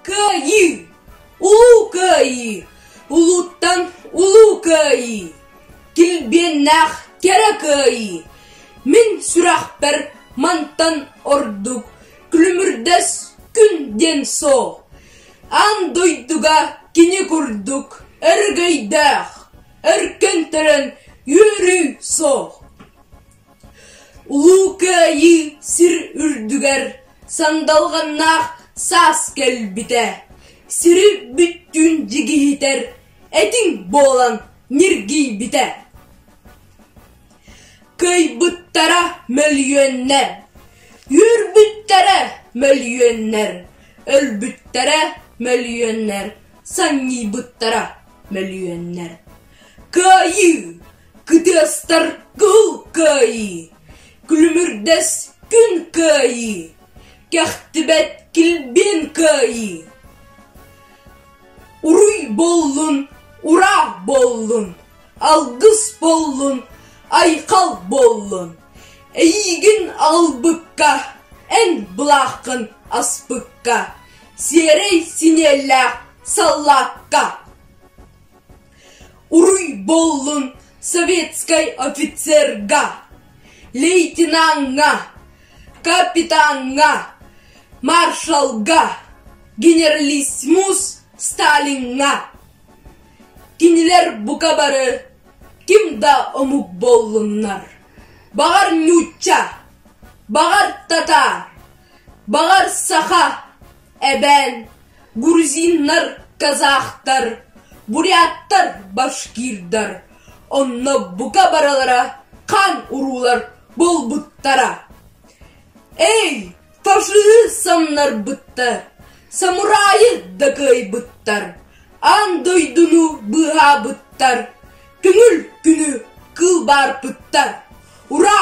Кыайыы Улуу Кыайыы Улууттан Улуу Кыайыы Килбиэннээх Кэрэ Кыайыы Мин сүрэхпэр мантан ордук Күлүмүрдэс күн диэн суол Аан дойдуга кини курдук Өргөйдөөх Өркөн төрөн үөрүү суол Улуу Кыайыы сир үрдүгэр сандалҕаннаах саас кэлбитэ, сири бүттүүн дьигиһитэр этиҥ буолан ньиргийбитэ. Кыайбыттара мөлүйүөннэр, үүрбүттэрэ мөлүйүөннэр, өлбүттэрэ мөлүйүөннэр, санньыйбыттара мөлүйүөннэр. Кыайыы Кытыастар кыһыл кыайыы, күлүмүрдэс күн кыайыы, кэхтибэт килбиэн кыайыы. Уруй буоллун, ураа буоллун, алгыс буоллун, айхал буоллун, эйиигин аҕалбыкка, эн былааххын аспыкка, сиэрэй синиэлээх саллаакка. Уруйболлун советской офицерга, лейтенанҥа, капитанҥа, маршалга, генералиссимус Сталиҥҥа. Кинилэр бука бары ким да омук буоллуннар. Баҕар нуучча, баҕар татаар, баҕар саха, Эбээн, грузиннар, казахтар, буряттар, башкирдар, онно бука барылара хан уруулар буолбуттара. Эй, фашиһы самнарбыттар, самурайы дакыайбыттар, аан дойдуну быыһаабыттар, көҥүл күнү кылбаарпыттар. Ура!